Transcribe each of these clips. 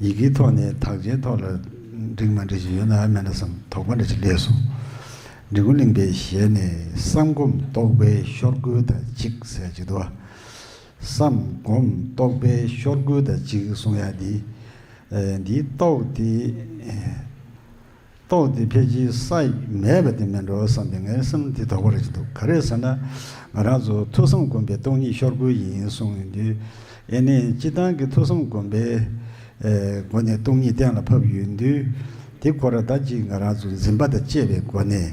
ཡི་གེའི་ཐོག་ནས་དག་ཆའི་ཐོག་ལ་འགྲིག་མ་འགྲིག་ཅིག་ཡོད་ན་ཨ་མེ་ར་སམ་དོགས་པ་འདྲ་ཅིག་ལས་སོ། འབྲི་གུ་གླིང་པའི་ཞལ་ནས་བསམ་སྒོམ་རྟོགས་པའི་ཤོར་སྒོའི་ད་ཅིག་ཟེར་ཅིག་དུ། བསམ་སྒོམ་རྟོགས་པའི་ཤོར་སྒོའི་ད་ཅིག་གསུང་ཡ་འདི། འདིའི་རྟོགས་དེ། རྟོགས་ཏེ་ཕལ་ཆེར་ས་ཡིག་མེད་པ་དེ་མིན་འགྲོ་བསམ་པའི་ངའི་སེམས་དེ་དོག་པོ་རེ་བྱེད་འདུག་ག་རེ་ཟེར་ན། ང་རང་ཚོ་ཐོས་བསམ་སྒོམ་པའི་སྟོང་ཉིད་ཤོར་དགོས་ཡིན་གསུངས་ཡོང་དུས། ཨེ་ནས་སྤྱི་བཏང་གི་ཐོས་བསམ་སྒོམ་པའི་སྒོ་ནས་སྟོང་ཉིད་གཏན་ལ་ཕབ་ཡོང་དུས། དེ་ཁོ་ར་ད་ཅིག་ང་རང་ཚོ་འཛིན་པ་དང་བཅས་པའི་སྒོ་ནས་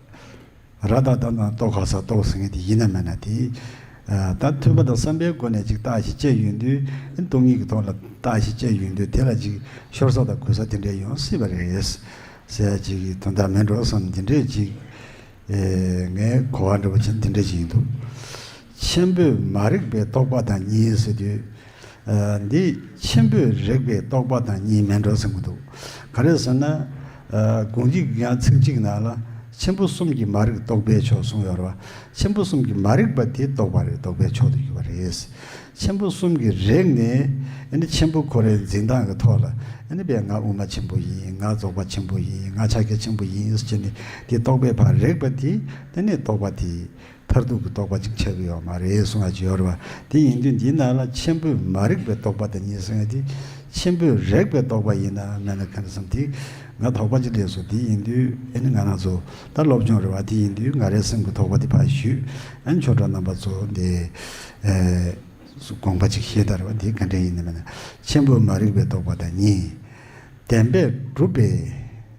ར་དང་ད་ནང་རྟོགས་ག་སར་རྟོགས་ཟེར་མཁན་དེ་ཡིན་ན་མེད་ན་དེས། ད་ཐོས་པ་དང་བསམ་པའི་སྒོ་ནས་ཅིག་བརྟགས་ཞིག་ཅེས་ཡོད་དུས། སྟོང་ཉིད་ཀྱི་ཐོག་ལ་བརྟགས་ཤིག་ཅེས་ཡོད་དུས་དེ་ལ་ཅིག་ཤོར་ས་དང་གོལ་ས་དེ་འདྲས་ཡོང་སྲིད་པ་རེད། གསལ་བྱེད་ཀྱི་དོན་དག་མེད་འགྲོ་བསམ་དེ་འདྲས་ཅིག། ངའི་གོ་བ་འདྲ་པོ་ཅན་དེ་འདྲས་ཅིག་ཡིན་འདུག། ཆེན་པོས་མ་རིག་པའི་རྟོག་པ་དང་གཉིས་ཟེར་དུས། འདིས་ཆེན་པོས་རིག་པའི་རྟོག་པ་དང་གཉིས་མིན་འགྲོ་ཟེར་གྱི་འདུག་ག་རེ་ཟེར་ན། དགོངས་འཇིག་གི་ཡང་ཚིག་གཅིག་ནང་ལ། ཆེན་པོ་གསུམ་གྱི་མ་རིག་རྟོག་པའི་ཕྱོགས་གསུངས་ཡོད་རེད་བ། ཆེན་པོ་གསུམ་གྱི་མ་རིག་པ་དེ་རྟོག་པ་རེད་རྟོག་པའི་ཕྱོགས་དུ་གྱུར་བ་རེད། ཆེན་པོ་གསུམ་གྱི་རིག་ནི། ཨེ་ནི་ཆེན་པོ་ཁོ་རའི་འཛིན་སྟངས་ཀྱི་ཐོག་ལ། ཨེ་ནི་བས་ང་དབུ་མ་ཆེན་པོ་ཡིན་ང་རྫོགས་པ་ཆེན་པོ་ཡིན་ང་ཕྱག་རྒྱ་ཆེན་པོ་ཡིན་ཟེར་གྱི་ནི་དེ་རྟོག་པའི་བར་རིག་པ་དེ་དེ་ནི་རྟོག་པ་དེ། མཐར་ཐུག་གི་རྟོགས་པ་གཅིག་ཆགས་ཀྱི་ཡོད་མ་རེད་གསུང་བ་བརྗོད་རོགས། དེ་ཡིན་དུས་འདི་ན་ལ་ཆེན་པོས་མ་རིག་པའི་རྟོགས་པ་དེ་གཉིས་གསུངས་ཡོད་དུས། ཆེན་པོས་རེག་པའི་རྟོགས་པ་ཡིན་ན་མེད་ན་ཁམས་གསུམ་དེ་ང་དོགས་པ་ཅི་ལས་སོ་དེ་ཡིན་དུས་ཨེ་ནི་ང་ང་ཚོ་ད་སློབ་སྦྱོང་རེད་བ་དེ་ཡིན་དུས་ང་རའི་སེམས་ཀྱི་དོགས་པ་དེ་ཕ་བཞུད་ཨན་ཆོས་གྲོགས་རྣམ་པ་ཚོ་འདི་དགོངས་པ་གཅིག་ཤེས་དར་བ་དེ་ག་འདྲས་ཡིན་ནི་མེད་ན་ཆེན་པོས་མ་རིག་པའི་རྟོགས་པ་དང་གཉིས་ལྡན་པས་གྲུབ་པའི་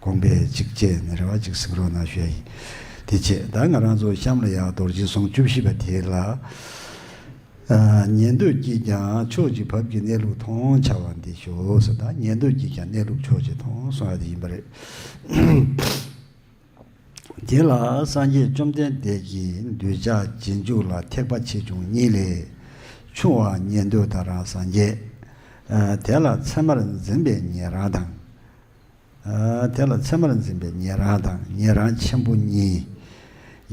དགོངས་པས་གཅིག་བཅས་ནི་རེ་བ་གཅིག་གཟིགས་རོགས་གནང་ཞུ་ཡ་ཡིན། དེ་རྗེས་ད་ང་རང་ཚོ་གཤམ་ལ་ཡང་རྡོ་རྗེ་ཟུང་བཅུ་བཞི་པ་དེ་ལ་ཉན་འདོད་ཀྱིས་ཀྱང་ཕྱོགས་ཀྱི་བབ་ཀྱི་གནས་ལུགས་མཐོང་བྱ་བ་འདི་ཞོགས་ཟེར་དང་ཉན་འདོད་ཀྱིས་ཀྱང་གནས་ལུགས་ཕྱོགས་ཀྱི་མཐོང་གསུང་བ་དེ་ཡིན་པ་རེད། དེ་ལ་སངས་རྒྱས་བཅོམ་ལྡན་འདས་ཀྱིས་འདོད་ཆགས་རྗེས་འཇུག་ལ་ཐེག་པ་ཆེ་ཆུང་གཉིས་ལས། ཆུང་བ་ཉན་འདོད་ད་རང་སངས་རྒྱས། དེ་ལ་ཚད་མར་འཛིན་པའི་ཉན་རང་དང། དེ་ལ་མཚན་མར་འཛིན་པའི་ཉན་རང་དང་ཉན་རང་ཆེན་པོ་གཉིས།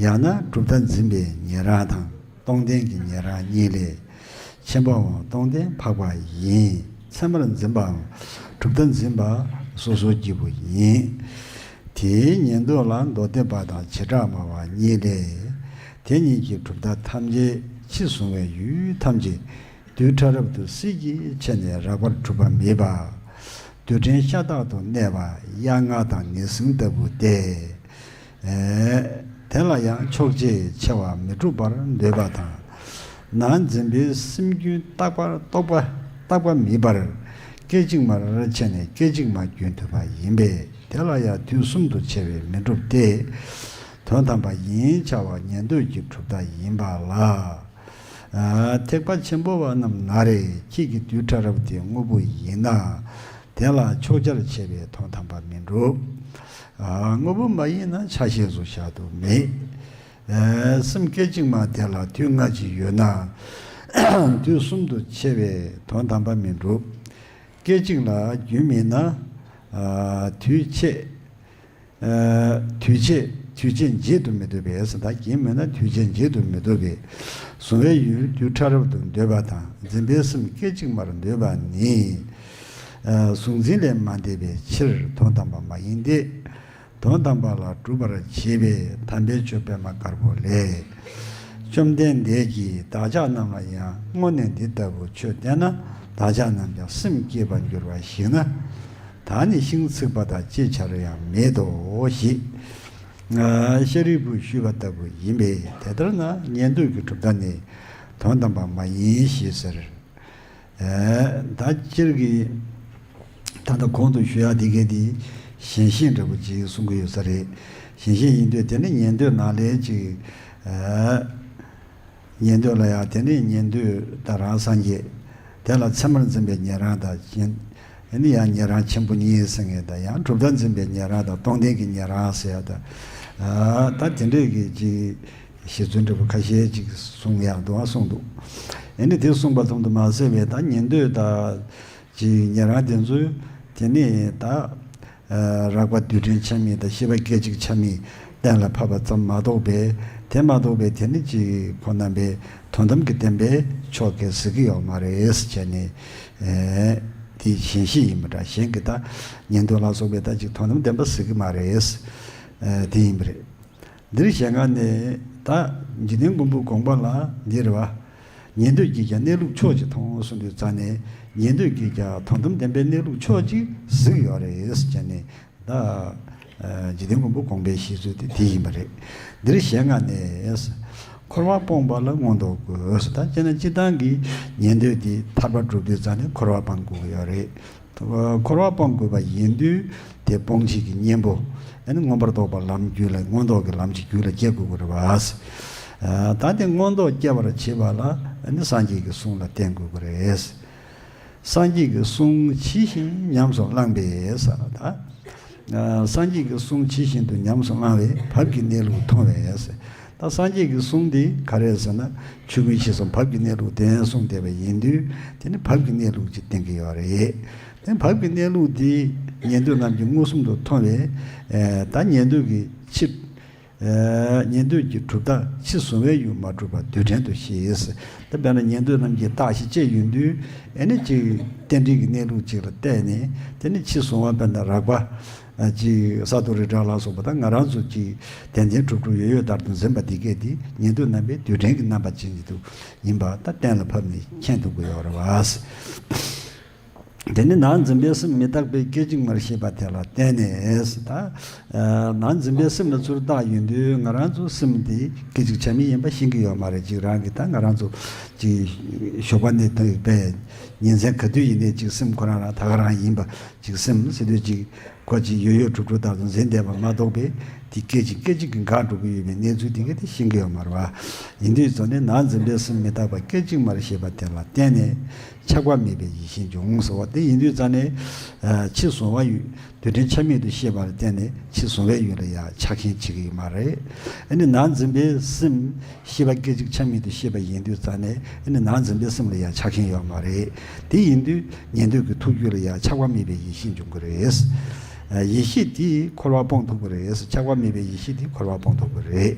ཡང་ན་གྲུབ་མཐའ་འཛིན་པའི་ཉན་རང་དང་སྟོང་ལྡན་གྱི་ཉན་རང་གཉིས་ལས། ཆེན་པོའང་སྟོང་ལྡན་འཕགས་པ་ཡིན། མཚན་མར་འཛིན་པའང་གྲུབ་མཐའ་འཛིན་པ་སོ་སོར་གྱིས་པོ་ཡིན། དེའི་ཉན་ཐོས་ལ་མདོ་སྡེ་པ་དང་བྱེ་བྲག་སྨྲ་བ་གཉིས་ལས། དེ་གཉིས་ཀྱིས་གྲུབ་མཐའ་ཐམས་ཅད་ཕྱི་གཟུང་བའི་ཡུལ་ཐམས་ཅད་རྡུལ་ཕྲ་རབ་ཏུ་སྲིད་ཀྱི་ཆེད་ནས་རགས་པར་གྲུབ་པ་མེད་པ། རྡུལ་ཕྲན་ཤ་སྟག་ཏུ་གནས་པ་དབྱར་རྔ་དང་ངེས་བཟུང་ལྟ་བུ་སྟེ། དེ་ལ་ཡང་ཕྱོགས་ཆའི་ཆེ་བ་མི་འགྲུབ་པར་འདོད་པ་དང། ནང་འཛིན་པའི་སེམས་རྒྱུན་རྟག་པར་རྟོགས་པ་རྟག་པ་མིན་པར། སྐད་ཅིག་མར་ཕྱེ་ནས་སྐད་ཅིག་མ་རྒྱུན་མཐུད་པ་ཡིན་པས་དེ་ལ་ཡང་དུས་གསུམ་དུ་ཕྱེ་བས་མི་འགྲུབ་སྟེ། དོན་དམ་པ་ཡིན་བྱ་བ་ཉན་ཐོས་ཀྱི་གྲུབ་མཐའ་ཡིན་པ་ལ། ཐེག་པ་ཆེན་པོ་བ་རྣམས་ན་རེ་ཁྱེད་ཀྱི་རྡུལ་ཕྲ་རབ་དེ་དངོས་པོ་ཡིན་ན། དེ་ལ་ཕྱོགས་ཆར་བྱས་པའི་དོན་དམ་པ་མི་འགྲུབ། དངོས་པོ་མ་ཡིན་ན་ཆ་ཤས་སུ་བཞག་ཏུ་མེད། སེམས་སྐད་ཅིག་མ་དེ་ལ་དུས་སྔ་ཕྱི་ཡོད་ན། དུས་གསུམ་དུ་ཕྱེ་བའི་དོན་དམ་པ་མི་འགྲུབ། སྐད་ཅིག་ལ་རྒྱུན་མེད་ན། དུས་ཕྱེད། འདུས་བྱས་འདུས་བྱས་འབྱེད་དུ་མི་འདོད་པས་ཨེ་ས་དག་གིས་མེད་ན་འདུས་བྱས་འབྱེད་དུ་མི་འདོད་པས། གཟུང་བའི་ཡུལ་རྡུལ་ཕྲ་རབ་ཏུ་འདོད་པ་དང་འཛིན་པའི་སེམས་སྐད་ཅིག་མར་འདོད་པ་ནི། གཟུང་འཛིན་ལས་མ་འདས་པའི་ཕྱིར་དོན་དམ་པ་མ་ཡིན་ཏེ། དོན་དམ་པ་ལ་སྒྲུབ་པར་བྱེད་པའི་དམ་པའི་ཆོས་པད་མ་དཀར་པོ་ལས། བཅོམ་ལྡན་འདས་ཀྱིས་བདག་ཅག་རྣམས་ལ་ཡང་སྔོན་ནས་འདི་ལྟ་བུ་ཆོས་བསྟན་ན་བདག་ཅག་རྣམས་ཀྱང་སེམས་བསྐྱེད་པར་འགྱུར་བ་ཞིག་ན། ད་ནི་ཤིང་ཚིག་པ་དང་ཅི་བྱ་རུ་ཡང་མེད་དོ་ཞེས་ཤཱ་རིའི་བུས་ཞུས་པ་ལྟ་བུ་ཡིན་པས་དེ་ལྟར་ན་ཉན་ཐོས་ཀྱི་གྲུབ་མཐའ་ནི་དོན་དམ་པ་མ་ཡིན་ཞེས་ཟེར། ད་སྤྱིར་གྱི་ད་ལྟ་གོང་དུ་ཞུས་ཡག་དེ་གའི་དེ་ཞེན་ཤེས་འདྲ་པོ་ཅིག་གསུང་གི་ཡོད་ས་རེད། ཞེན་ཤེས་ཡིན་དུས་དེ་འདྲ་ཉན་ཐོས་ནག་ལས་ཅིག། ཉན་ཐོས་ལ་ཡང་དེ་ནས་ཉན་ཐོས་དང་རང་སངས་རྒྱས། དེ་ལ་མཚན་མར་འཛིན་པའི་ཉན་རང་དང། དེ་ནི་ཡང་ཉན་རང་ཆེན་པོ་གཉིས་ཟེར་ངེས་དང་ཡང་གྲུབ་མཐའ་འཛིན་པའི་ཉན་རང་དང་སྟོང་ལྡན་གྱི་ཉན་རང་ཟེར་ཡ་དང། ད་དེ་འདྲས་ཀྱི་ཅིག། ཞེས་རྫུན་འབྲི་བ་ཁ་ཤས་ཅིག་གསུངས་ཡང་དུའང་གསུངས་འདུག། ཡེ་ནས་དེ་གསུངས་པ་ལྷུམ་དུ་མ་བསལ་བས་ད་ཉན་ཐོས་དང། ཅིག་ཉན་རང་དེ་ཚོས་དེ་ནས་ད། རགས་པ་རྡུལ་ཕྲན་ཆ་མེད་དང་ཤེས་པ་སྐད་ཅིག་ཆ་མེད་གཏན་ལ་ཕབ་པ་ཙམ་མ་གཏོགས་པས་དེ་མ་གཏོགས་པའི་དེ་ནི་གཅིག་ཁོ་ན་པའི་དོན་དམ་གྱི་བདེན་པའི་ཕྱོགས་གལ་སྲིད་ཀྱི་ཡོག་མ་རེས་བྱས་ནས། དེ་གཞན་ཞིག་ཡིན་པ་འདྲ་གཞན་གྱི་བདག་ཉིད་དོན་ལ་སོགས་པའི་བདག་གཅིག་དོན་དམ་བདེན་པ་ཟེར་གྱི་མ་རེད། དེ་ཡིན་པ་རེད། འདིར་ཞལ་སྔ་ནས་དག། འཇིག་རྟེན་མགོན་པོའི་དགོངས་པ་ལ་འདིར་བ། ཉན་ཐོས་ཀྱིས་ཀྱང་གནས་ལུགས་ཕྱོགས་གཅིག་མཐོང་གསུངས་པའི་རྩ་ནས་ཉན་ཐོས་ཀྱིས་ཀྱང་དོན་དམ་བདེན་པའི་གནས་ལུགས་ཕྱོགས་གཅིག་གཟིགས་ཡོད་རེད་ཅེས་ནས་དག། འཇིག་རྟེན་མགོན་པོའི་དགོངས་པའི་བཞེད་ཚུལ་དེ་དེ་ཡིན་པ་རེད། འདིར་ཞལ་སྔ་ནས། འཁོར་བར་སྤོང་བ་ལ་མངོན་རྟོགས་དགོས་སོ་ད་ཅེ་ན་སྤྱིར་བཏང་གི་ཉན་ཐོས་དེ་ཐར་པ་སྒྲུབ་དུས་རྩ་ནས་འཁོར་བར་སྤང་དགོས་ཀྱི་ཡོད་རེད། འཁོར་བ་སྤོང་དགོས་པ་ཡིན་དུས་དེ་སྤོང་བྱེད་ཀྱི་གཉེན་པོ་མངོན་པར་རྟོགས་པ་ལམ་རྒྱུད་ལ་མངོན་རྟོགས་ཀྱི་ལམ་གྱི་རྒྱུད་ལ་སྐྱེ་དགོས་དགོས་རེད། ད་དེ་མངོན་རྟོགས་སྐྱེ་བར་བྱེད་པ་ལ་སངས་རྒྱས་ཀྱི་གསུང་ལ་བརྟེན་དགོས་དགོས་རེད། སངས་རྒྱས་ཀྱི་གསུང་ཇི་བཞིན་ཉམས་སུ་བླངས་པས་སངས་རྒྱས་ཀྱི་གསུང་ཇི་བཞིན་དུ་ཉམས་སུ་བླངས་བས་བབ་ཀྱི་གནས་ལུགས་མཐོང་བས་ད་སངས་རྒྱས་ཀྱི་གསུང་འདི་ག་རེད་ཟེར་ན་ཆོས་ཀུན་ཤེས་སམ་བབ་ཀྱི་གནས་ལུགས་བདེན་གསུང་བདེན་པ་ཡིན་དུས་དེ་ནི་བབ་ཀྱི་གནས་ལུགས་ཅིག་བསྟན་གྱི་ཡོད་རེད། དེ་བབ་ཀྱི་གནས་ལུགས་འདི་ཉན་ཐོས་རྣམས་ཀྱིས་མངོན་སུམ་དུ་མཐོང་བས། ད་ཉན་ཐོས་ཀྱི་ཕྱིར། ཉན་ཐོས་ཀྱི་གྲུབ་རྟགས་ཕྱི་གཟུང་བས་ཡུལ་མ་གྲུབ་པ་རྡུལ་ཕྲན་དུ་ཤེས། ད་དཔེར་ན་ཉན་ཐོས་རྣམས་ཀྱིས་རྟགས་ཤིག་དཔྱད་ཡོད་དུས་ཨེ་ནི་ཅིག་རྟེན་འབྲེལ་གྱི་གནས་ལུགས་ཅིག་ལ་བལྟས་ནས་དེ་ནི་ཕྱི་གཟུང་བ་དཔེར་ན་རགས་པ། གཅིག་ས་རྡོ་རི་བྲག་ལ་སོགས་པ་དང་ང་རང་ཚོ་གཅིག་དད་ལྡན་དྲུག་དྲུག་ཡོད་ཡོད་ལྟར་དུ་འཛིན་པ་འདི་གས་འདི་ཉེ་དུས་རྣམ་པའི་དུས་དྲན་གྱི་རྣམ་པ་ཅན་གྱི་དུག་ཡིན་པ་ད་གཏན་ལ་ཕབ་ནས་མཁྱེན་ཐུབ་དགོས་ཡོད་རེད་བ། དེ་ནི་ནང་འཛིན་པའི་སེམས་མི་རྟག་པའི་སྐད་ཅིག་མར་ཤེས་པ་དེ་ལ་བརྟེན་ནས་ད་ནང་འཛིན་པའི་སེམས་ལ་ཚུར་བཏགས་ཡིན་དུས་ང་རང་ཚོ་སེམས་དེ་སྐད་ཅིག་ཆ་མེད་ཡིན་པ་ཤེས་ཀྱི་ཡོད་མ་རེད་གཅིག་རང་གིས་ད་ང་རང་ཚོ་གཅིག་ཞོགས་པ་ནས་ཐོན་པའི་ཉིན་མཚན་ག་དུས་ཡིན་ནས་གཅིག་སེམས་ཁོ་རང་རང་ད་ག་རང་ཡིན་པ་གཅིག་སེམས་སེ་སྟོད་གཅིག་འཁོར་གཅིག་ཡོད་ཡོད་གྲུབ་གྲུབ་ལྟར་དུ་འཛིན་བསྡད་པ་མ་གཏོགས་པས་འདི་སྐད་ཅིག་སྐད་ཅིག་གིས་འགག་འགྲོ་གི་ཡོད་པའི་གནས་ཚུལ་འདི་ག་དེ་ཤེས་གི་ཡོད་མ་རེད་བ། ཡིན་དུས་གཙོ་ནི་ནང་འཛིན་པའི་སེམས་མི་རྟག་པ་སྐད་ཅིག་མར་ཤེས་པ་དེ་ལ་བརྟེན་ནས་ཆགས་པ་མེད་པའི་ཡིད་ཤེས་འབྱུང་ཟེར་བ་དེ་ཡིན་དུས་རྩ་ནས། ཕྱི་བཟོ་བ་ཡུལ་དུས་དྲན་ཆ་མེད་དུ་ཤེས་པ་ལ་བརྟེན་ནས་ཕྱི་བཟོ་བའི་ཡུལ་ལ་ཡང་ཆགས་མཁན་བྱེད་ཀྱི་ཡོད་མ་རེད། ཨེ་ནི་ནང་འཛིན་པའི་སེམས་ཤེས་པ་སྐད་ཅིག་ཆ་མེད་དུ་ཤེས་པ་ཡིན་དུས་རྩ་ནས་ཨེ་ནི་ནང་འཛིན་པའི་སེམས་ལ་ཡང་ཆགས་མཁན་ཡོད་མ་རེད། དེ་ཡིན་དུས་ཉན་ཐོས་ཀྱི་ཐུགས་རྒྱུད་ལ་ཡང་ཆགས་པ་མེད་པའི་ཡེ་ཤེས་འབྱུང་གི་རེད། ཡེ་ཤེས་དེས་འཁོར་བ་སྤོང་ཐུབ་ཀྱི་རེད། ཆགས་པ་མེད་པའི་ཡེ་ཤེས་དེས་འཁོར་བ་སྤོང་ཐུབ་ཀྱི་རེད།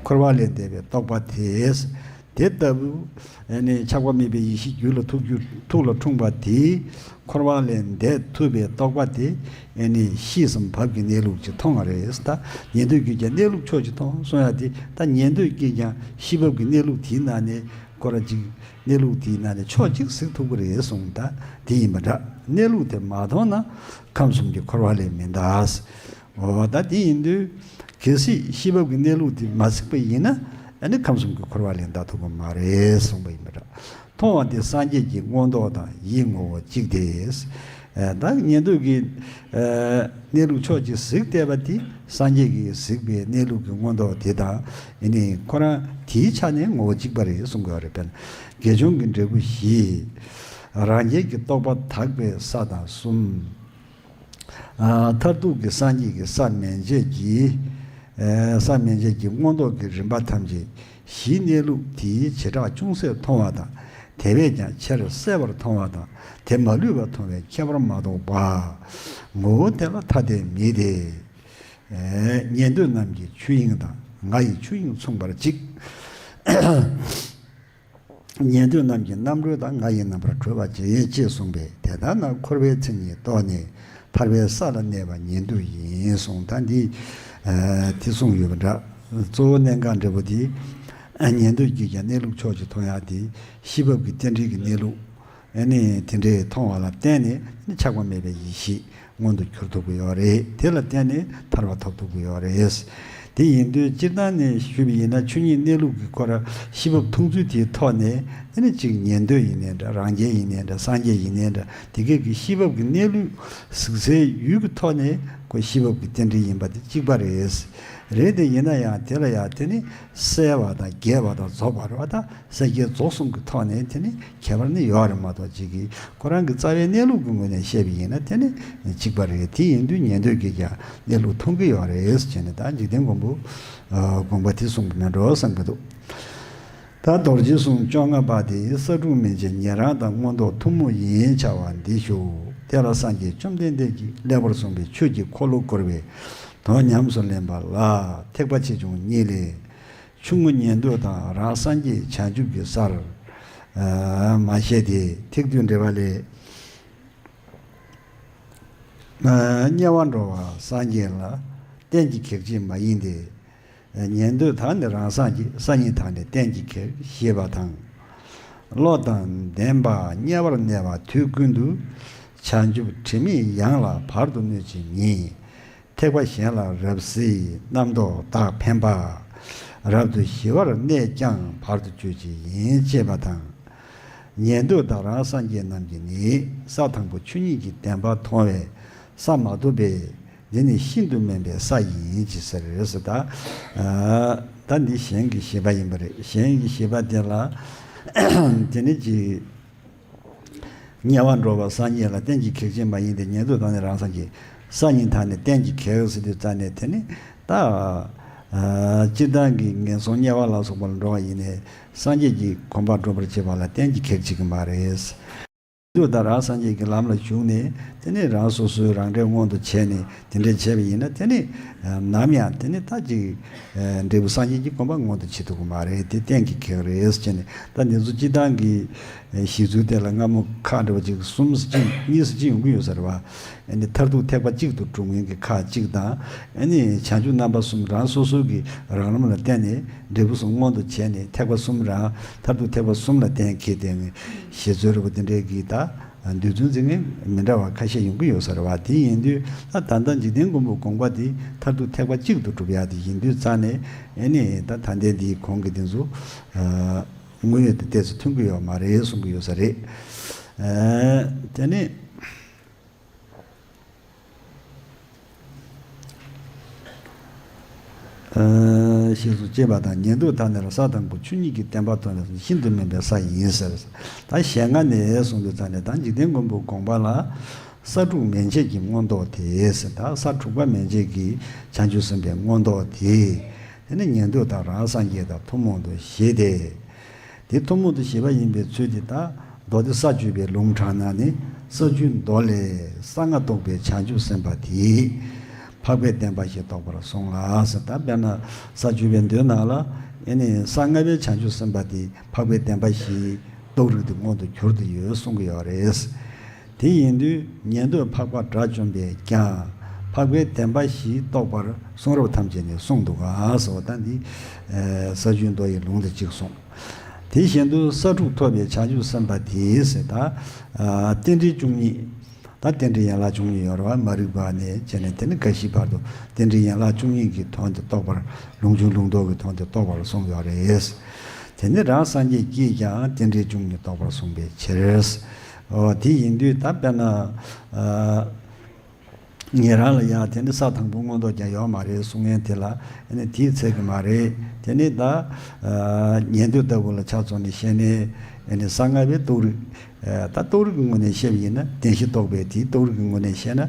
འཁོར་བ་ལས་འདས་པའི་རྟོགས་པ་དེས། དེ་ལྟ་བུ། ནས་ཆགས་པ་མེད་པའི་ཡེ་ཤེས་རྒྱུད་ལ་ཐུགས་རྒྱུད་ཐུགས་ལ་འཁྲུངས་པ་དེས། འཁོར་བ་ལས་འདས་ཐུབ་པའི་རྟོགས་པ་དེ། ཤེས་སམ་བབས་ཀྱི་གནས་ལུགས་ཅིག་མཐོང་བ་རེད། ད་ཉན་ཐོས་ཀྱིས་ཀྱང་གནས་ལུགས་ཕྱོགས་གཅིག་མཐོང་གསུང་ཡ་དེ། ད་ཉན་ཐོས་ཀྱིས་ཀྱང་ཤེས་བབས་ཀྱི་གནས་ལུགས་དེའི་ནང་ནས། སྐོར་ཅིག། གནས་ལུགས་དེའི་ནང་ནས་ཕྱོགས་གཅིག་གཟིགས་ཐུབ་ཀྱི་རེད་གསུངས་ད་དེ་ཡིན་པ་འདྲ་གནས་ལུགས་དེ་མ་མཐོང་ན་ཁམས་གསུམ་གྱི་འཁོར་བ་ལས་མི་འདའ། འོ་ད་དེ་ཡིན་དུས་གལ་སྲིད་གཤིས་བབ་ཀྱི་གནས་ལུགས་དེ་མ་གཟིགས་པ་ཡིན་ན་ནི་ཁམས་གསུམ་གྱི་འཁོར་བ་ལས་འདའ་ཐུབ་ཀྱི་མ་རེད་གསུངས་པ་ཡིན་པ་འདྲ་མཐོང་བ་དེ་སངས་རྒྱས་ཀྱི་མངོན་རྟོགས་དང་ཡིད་ངོ་བོ་གཅིག་དེ། བདག་ཉན་ཐོས་ཀྱི། གནས་ལུགས་ཕྱོགས་ཀྱི་གཟིགས་བལྟས་པ་དེ་སངས་རྒྱས་ཀྱི་གཟིགས་པའི་གནས་ལུགས་ཀྱི་མངོན་རྟོགས་དེ་དང་ནི་ཁོ་རང་དེའི་ཆ་ནས་ངོ་བོ་གཅིག་པ་རེད་གསུང་དགོས་རེད་དཔེར་ན་དགེ་སྦྱོང་གི་འབྲས་བུ་བཞི། རང་རྒྱལ་གྱི་རྟོགས་པ་དག་པའི་ས་དང་གསུམ། མཐར་ཐུག་གི་སངས་རྒྱས་ཀྱི་ས་མན་ཆད་ཀྱི། ས་མན་ཆད་ཀྱི་མངོན་རྟོགས་ཀྱི་རིམ་པ་ཐམས་ཅད་གཞིའི་གནས་ལུགས་དེའི་བྱེ་བྲག་ཅུང་ཟད་མཐོང་བ་དང་དེ་བས་ཀྱང་ཆེར་གསལ་བར་མཐོང་བ་དང་དེ་མ་ལུས་པར་མཐོང་བའི་ཁྱད་པར་མ་གཏོགས་པ། ངོ་བོ་དེ་ལ་ཐ་དད་མེད་དེ། ཉན་ཐོས་རྣམས་ཀྱི་ཆོས་དབྱིངས་དང་ང་ཡི་ཆོས་དབྱིངས་མཚུངས་པར་གཅིག། ཉན་ཐོས་རྣམས་ཀྱི་རྣམ་གྲོལ་དང་ང་ཡི་རྣམ་པར་གྲོལ་བ་གཅིག་ཡིན་ཅེས་གསུངས་པས་དེ་ལྟར་ན་འཁོར་བའི་མཚན་ཉིད་རྟོགས་ནས་ཐར་པའི་ས་ལ་གནས་པ་ཉན་ཐོས་ཡིན་གསུངས་ད་འདི་དེ་གསུངས་ཡོད་པ་འདྲ། གཙོ་བོ་གནད་འགག་འབྲས་བུ་དེ། ཉན་ཐོས་ཀྱིས་ཀྱང་གནས་ལུགས་ཕྱོགས་གཅིག་མཐོང་ཡང་དེ་ཤེས་བབས་ཀྱི་རྟེན་འབྲེལ་གྱི་གནས་ལུགས། ནི། དེ་འདྲའི་མཐོང་བ་ལ་བརྟེན་ནས་ནི་ཆགས་པ་མེད་པའི་ཡེ་ཤེས་མངོན་དུ་གྱུར་ཐུབ་ཀྱི་ཡོད་རེད་དེ་ལ་བརྟེན་ནས་ཐར་བ་ཐོབ་ཐུབ་ཀྱི་ཡོད་རེད། དེ་ཡིན་དུས་སྤྱིར་བཏང་ནས་ཞུས་པ་ཡིན་ན་ཆོས་ཉིད་གནས་ལུགས་ཀྱི་སྐོར་ཤེས་བབས་མཐོང་ཚུལ་དེའི་ཐོག་ནས་ནི་གཅིག་ཉན་ཐོས་ཡིན་ནའི་འདྲ་རང་རྒྱལ་ཡིན་ནའི་འདྲ་སངས་རྒྱས་ཡིན་ནའི་འདྲ་དེ་སྐད་ཀྱི་ཤེས་བབས་ཀྱི་གནས་ལུགས་གཟིགས་སའི་ཡུལ་གྱི་ཐོག་ནས་ཀྱི་ཤེས་བབས་ཀྱི་རྟེན་འབྲེལ་ཡིན་པ་དེ་གཅིག་པ་རེད། རེད་དེ་ཡིན་ན་ཡང་དེ་ལ་ཡང་དེ་ནི་གསལ་བ་དང་རྒྱས་པ་དང་རྫོགས་པར་བ་དང་གསལ་རྒྱས་རྫོགས་གསུམ་གྱི་ཐོག་ནས་དེ་ནི་ཁྱད་པར་ནི་ཡོད་རེད་མ་གཏོགས་གཅིག་གིས་ཁོ་རང་གི་རྩ་བའི་གནས་ལུགས་ཀྱི་ངོས་ནས་བཤད་པ་ཡིན་ན་དེ་ནི་གཅིག་པ་རེད་དེ་ཡིན་དུས་ཉན་ཐོས་ཀྱིས་ཀྱང་གནས་ལུགས་མཐོང་གི་ཡོད་རེད་ཅེས་ནས་ད་འཇིག་རྟེན་མགོན་པོ་དགོངས་པ་དེ་གསུངས་པ་མེད་འགྲོ་བསམ་གྱི་འདུག་ད་རྡོ་རྗེ་གསུང་བཅོ་ལྔ་པ་དེ་ས་དྲུག་མིན་གྱི་ཉན་རང་དང་མངོན་རྟོགས་ཐུན་མོང་ཡིན་བྱ་བ་འདི་བཞུགས་དེ་ལ་སངས་རྒྱས་བཅོམ་ལྡན་འདས་ཀྱིས་ཀླད་པར་གསུངས་པའི་ཆོས་ཀྱི་འཁོར་ལོ་བསྐོར་བའི་དོན་ཉམས་སུ་ལེན་པ་ལ་ཐེག་པ་ཆེ་ཆུང་གཉིས་ལས། ཆུང་ངུ་ཉན་ཐོས་དང་རང་སངས་རྒྱས་བྱང་ཆུབ་ཀྱི་སར། མ་བཤད་དེ་ཐེག་བསྡུས་འགྲེལ་བ་ལས། དམྱལ་བར་འགྲོ་བ་སངས་རྒྱས་ལ། གཏན་གྱི་གེགས་བྱེད་མ་ཡིན་ཏེ། ཉན་ཐོས་དག་ནི་རང་སངས་རྒྱས་ས་གཉིས་དག་ནི་གཏན་གྱི་གེགས་ཞེས་པ་དང། བློ་དང་ལྡན་པ་དམྱལ་བར་གནས་པ་དུས་ཀུན་ཏུ། བྱང་ཆུབ་དྲི་མེད་གཡང་ལ་བར་དུ་གནོད་ཅིང་ཉེ། ཐེག་པ་གཞན་ལ་རབ་ཟེར་རྣམ་རྟོག་དག་འཕེན་པ། རབ་ཏུ་ཞི་བར་གནས་ཀྱང་བར་དུ་གཅོད་བྱེད་ཡིན་ཅེས་པ་དང། ཉན་ཐོས་དག་རང་སངས་རྒྱས་རྣམས་ཀྱིས་ནི་ས་དང་པོ་ཆོས་ཉིད་ཀྱི་བདེན་པ་མཐོང་བས་ས་མ་ཐོབ་པས་འདི་ནི་ཤིན་ཏུ་དམན་པའི་ས་ཡིན་ཅེས་ཟེར་རེད་ཟེར། ད་ད་འདི་གཞན་གྱི་བཞེད་པ་ཡིན་པ་རེད་གཞན་གྱི་བཞེད་པ་དེ་ལ། དེ་ནི་གཅིག། དམྱལ་བར་འགྲོ་བ་ས་གཉིས་ལ་གཏན་གྱི་གེགས་བྱེད་མ་ཡིན་ཏེ་ཉེ་དུ་དང་ནི་རང་སངས་ཀྱིས། ས་གཉིས་དག་ནི་གཏན་གྱི་གེགས་སུ་དུས་ལྟར་ནས་དེ་ནི་ད། སྤྱིར་བཏང་གི་ངན་སོང་དམྱལ་བ་ལ་སོགས་པ་ལ་འགྲོ་བ་ཡིན་ནས་སངས་རྒྱས་ཀྱི་གོམ་པར་འགྲོ་བར་བྱེད་པ་ལ་གཏན་གྱི་གེགས་བྱེད་ཀྱི་མ་རེད། དུས་དང་རང་སངས་རྒྱས་ཀྱི་ལམ་ལ་ཞུགས་ནས་དེ་ནས་རང་སོ་སོའི་རང་འབྲས་མངོན་དུ་བྱས་ནས་དེ་འདྲའི་བྱས་པ་ཡིན་ན་དེ་ནི་ནམ་ཡང་དེ་ནི་རྟག་གཅིག་འབྲས་བུ་སངས་རྒྱས་ཀྱི་དགོངས་པ་མངོན་དུ་བྱེད་ཐུབ་ཀྱི་མ་རེད་དེ་གཏན་གྱི་ཁེགས་རེད་ཅེས་ནས་ད་འདི་ཚོ་སྤྱི་བཏང་གི་གཞི་ཚུལ་དེ་ལ་སྔ་མོ་ཁག་འགྲེལ་པ་གཅིག་གསུམ་གཉིས་སུ་ཅི་ཡོང་གི་ཡོད་ས་རེད་བ། མཐར་ཐུག་ཐེག་པ་གཅིག་ཏུ་གྲུབ་མཁན་གྱི་ཁག་གཅིག་དང། བྱང་ཆུབ་རྣམ་པ་གསུམ་རང་སོ་སོ་གྱི་རང་ལམ་ལ་བརྟེན་ནས་འབྲས་བུ་གསུམ་མངོན་དུ་བྱས་ནས་ཐེག་པ་གསུམ་རང་མཐར་ཐུག་ཐེག་པ་གསུམ་ལ་གཏན་འཁེལ་ཏེ། ཞེས་རྩོད་རེ་བ་འདི་འདྲའི་གིས་ད་འདོད་རྫུན་འཛིན་མཁན་མི་འདྲ་བ་ཁ་ཤས་ཡོང་གི་ཡོད་ས་རེད་བ་དེ་ཡིན་དུས་ད་ད་འཇིག་རྟེན་མགོན་པོ་དགོངས་པ་འདི་མཐར་ཐུག་ཐེག་པ་གཅིག་ཏུ་གྲུབ་ཡག་དེ་ཡིན་དུས་རྩ་ནས་ཨེ་ནས་ད་ད་ལྟའི་འདིའི་གོང་གི་འདི་ཚོ་དངོས་ཡོད་དུ་བལྟས་ཚེ་མཐུན་གི་ཡོད་མ་རེད་གསུང་གི་ཡོད་ས་རེད་དེ་ནི། ཞེས་སོགས་ཅེས་པ་དང་ཉན་ཐོས་ཐ་མལ་པ་ས་དང་གོ་ཆུ་གཉིས་ཀྱི་བསྟན་པ་མཐོང་བས་སོ་ཤིན་ཏུ་དམན་པའི་ས་ཡིན་ཟེར། ད་ཞལ་སྔ་ནས་གསུངས་པའི་ཐ་ན་ད་འཇིག་རྟེན་མགོན་པོའི་དགོངས་པ་ལ། ས་དྲུག་མན་ཆད་ཀྱི་མངོན་རྟོགས་དེས་ད་ས་དྲུག་པ་མན་ཆད་ཀྱི་བྱང་ཆུབ་སེམས་དཔའི་མངོན་རྟོགས་དེ། དེ་ནི་ཉན་ཐོས་དང་རང་སངས་རྒྱས་དང་ཐུན་མོང་དུ་བཞེད་དེ། དེ་ཐུན་མོང་དུ་བྱེད་པ་ཡིན་པའི་ཚུལ་དེ་དག་མདོ་སྡེ་ས་བཅུ་པའི་ལུང་དྲངས་ན་ནི་ས་བཅུའི་མདོ་ལས་ས་ལྔ་རྟོགས་པའི་བྱང་ཆུབ་སེམས་དཔའ་དེས་འཕགས་པའི་བདེན་པ་ཞེས་རྟོགས་པར་གསུངས་ལ་ཟེར་ད་དཔེར་ན་ས་བཅུ་པའི་མདོའི་ནང་ལ་ཡེ་ནས་ས་ལྔ་པའི་བྱང་ཆུབ་སེམས་དཔའ་དེས་འཕགས་པའི་བདེན་པ་ཞེས་རྟོགས་རིགས་དེ་མངོན་དུ་གྱུར་དུ་ཡོད་གསུང་གི་ཡོད་རེད། དེ་ཡིན་དུས་ཉན་ཐོས་འཕགས་པ་དགྲ་བཅོམ་པས་ཀྱང། འཕགས་པའི་བདེན་པ་བཞི་རྟོགས་པར་གསུང་རབ་ཐམས་ཅད་ནས་གསུངས་འདུག་ག་ཟེར་བ་ལྟར་འདི། ས་བཅུའི་མདོ་ཡི་ལུང་དེ་གཅིག་གསུངས། དེ་བཞིན་དུ་ས་དྲུག་ཐོབ་པའི་བྱང་ཆུབ་སེམས་དཔའ་དེས་ད། རྟེན་འབྲེལ་བཅུ་གཉིས། ད་རྟེན་འབྲེལ་ཡན་ལག་བཅུ་གཉིས་ཡོད་རབ་མ་རིག་པ་ནས་བྱས་ནས་དེ་ནས་དགའ་བཞིའི་བར་དུ་རྟེན་འབྲེལ་ཡན་ལག་བཅུ་གཉིས་ཀྱི་དོན་དེ་རྟོགས་པར་ལུང་ཆུང་ལུང་རྡོག་གི་དོན་དེ་རྟོགས་པར་གསུངས་ཡོད་རེད། དེ་ནས་རང་སངས་རྒྱས་ཀྱིས་ཀྱང་རྟེན་འབྲེལ་བཅུ་གཉིས་རྟོགས་པར་གསུངས་པའི་ཕྱིར། དེ་ཡིན་དུས་ད་དཔེར་ན། ངེད་རང་ལ་ཡང་དེ་འདྲ་ས་དང་པོ་མངོན་རྟོགས་ཀྱང་ཡོད་མ་རེད་གསུང་མཁན་དེ་ལ་ནི་དེའི་ཚད་ཀྱི་མ་རེད། དེ་ནི་ད། ཉན་ཐོས་ལྟ་བུ་ལ་ཆ་ཚོགས་ནས་བཤད་ནས། ས་ལྔ་པའི་རྟོགས་རིགས། ད་རྟོགས་རིགས་ཀྱི་ངོས་ནས་བཤད་པ་ཡིན་ན་བདེན་བཞི་རྟོགས་པའི་དེའི་རྟོགས་རིགས་ཀྱི་ངོས་ནས་བཤད་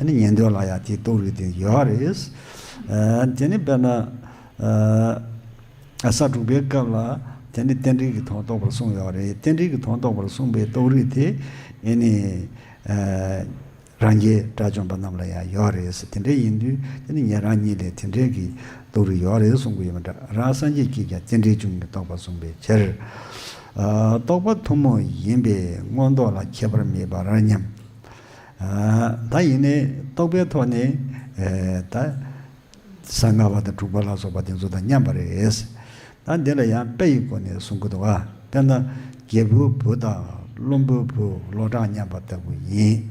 ན། ཉན་ཐོས་ལ་ཡང་དེའི་རྟོགས་རིགས་དེ་ཡོད་རེད། དེ་ནི་དཔེར་ན། ས་དྲུག་པའི་སྐབས་ལ་དེ་ནི་རྟེན་འབྲེལ་གྱི་དོན་རྟོགས་པར་གསུངས་ཡོད་པ་རེད། རྟེན་འབྲེལ་གྱི་དོན་རྟོགས་པར་གསུངས་པའི་རྟོགས་རིགས་དེ་ནི། རང་རྒྱལ་དགྲ་བཅོམ་པ་རྣམས་ལ་ཡང་ཡོད་རེད། དེ་འདྲ་ཡིན་དུས་དེ་ནི་ངེད་རང་ཉིད་ལས་དེ་འདྲའི་གི་རྟོགས་རིགས་ཡོད་རེད་གསུང་གི་ཡོད་མ་འདྲ་རང་སངས་རྒྱས་ཀྱིས་ཀྱང་རྟེན་འབྲེལ་བྱུང་གི་རྟོགས་པར་གསུངས་པའི་ཕྱིར། རྟོགས་པ་ཐུན་མོང་ཡིན་པས་མངོན་རྟོགས་ལ་ཁྱད་པར་མེད་པར་སྙམ། ད་ཡིན་ནས་རྟོགས་པའི་ཐོག་ནས། ས་ལྔ་པ་དང་དྲུག་པ་ལ་སོགས་པ་དེ་ཚོ་དང་མཉམ་པ་རེད། ད་འདི་ལ་ཡང་དཔེ་ཡི་སྒོ་ནས་གསུང་གི་འདུག་བ། དཔེར་ན། རྒྱལ་བུའི་བུ་དང་བློན་པོའི་བུ་ལོ་གྲངས་མཉམ་པ་ལྟ་བུ་ཡིན།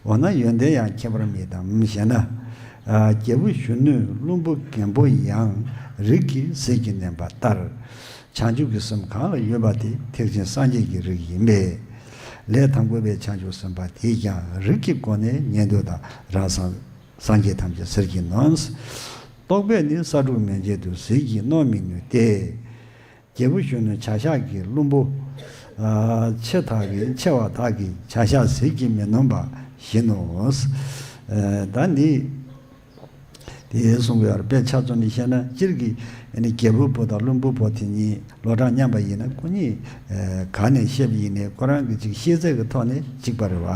འོ་ན་ཡོན་ཏན་ཡང་ཁྱད་པར་མེད་དམ་ཞེ་ན། རྒྱལ་བུ་གཞོན་ནུས་བློན་པོ་རྒན་པོ་ཡང་རིགས་ཀྱི་ཟིལ་གྱིས་མནན་པ་ལྟར། བྱང་ཆུབ་ཀྱི་སེམས་གང་ལ་ཡོད་པ་དེ་ཐེག་ཆེན་སངས་རྒྱས་ཀྱི་རིགས་ཡིན་པས། ལས་དང་པོ་པའི་བྱང་ཆུབ་སེམས་དཔའ་དེས་ཀྱང་རིགས་ཀྱི་སྒོ་ནས་ཉན་ཐོས་དང་རང་སངས། སངས་རྒྱས་ཐམས་ཅད་ཟིལ་གྱིས་གནོན། རྟོག་པས་ནི་ས་དྲུག་མན་ཆད་དུ་ཟིལ་གྱིས་གནོན་མི་ནུས་ཏེ། རྒྱལ་བུ་གཞོན་ནུ་བྱ་གཞག་གི་བླུན་པོ། ཆེ་དག་གི་ཆེ་བ་དག་གི་བྱ་གཞག་ཟིལ་གྱིས་མི་གནོན་པ་བཞིན་ནོ། ད་ནི། དེས་གསུངས་པའི་བར་པའི་ཆ་རྩོམ་མི་ཤེས་ན་སྤྱིར་གྱི། རྒྱལ་བུ་པོ་དང་བླུན་པོ་པོ་དེ་གཉིས་ལོ་གྲངས་མཉམ་པ་ཡིན་ན་སྐུ་ཉིད་གང་ནས་ཤེས་པ་ཡིན་ནས་ཁོ་རང་གི་གཅིག་ཤེས་ཚད་ཀྱི་ཐོག་ནས་གཅིག་པ་རེད་བ།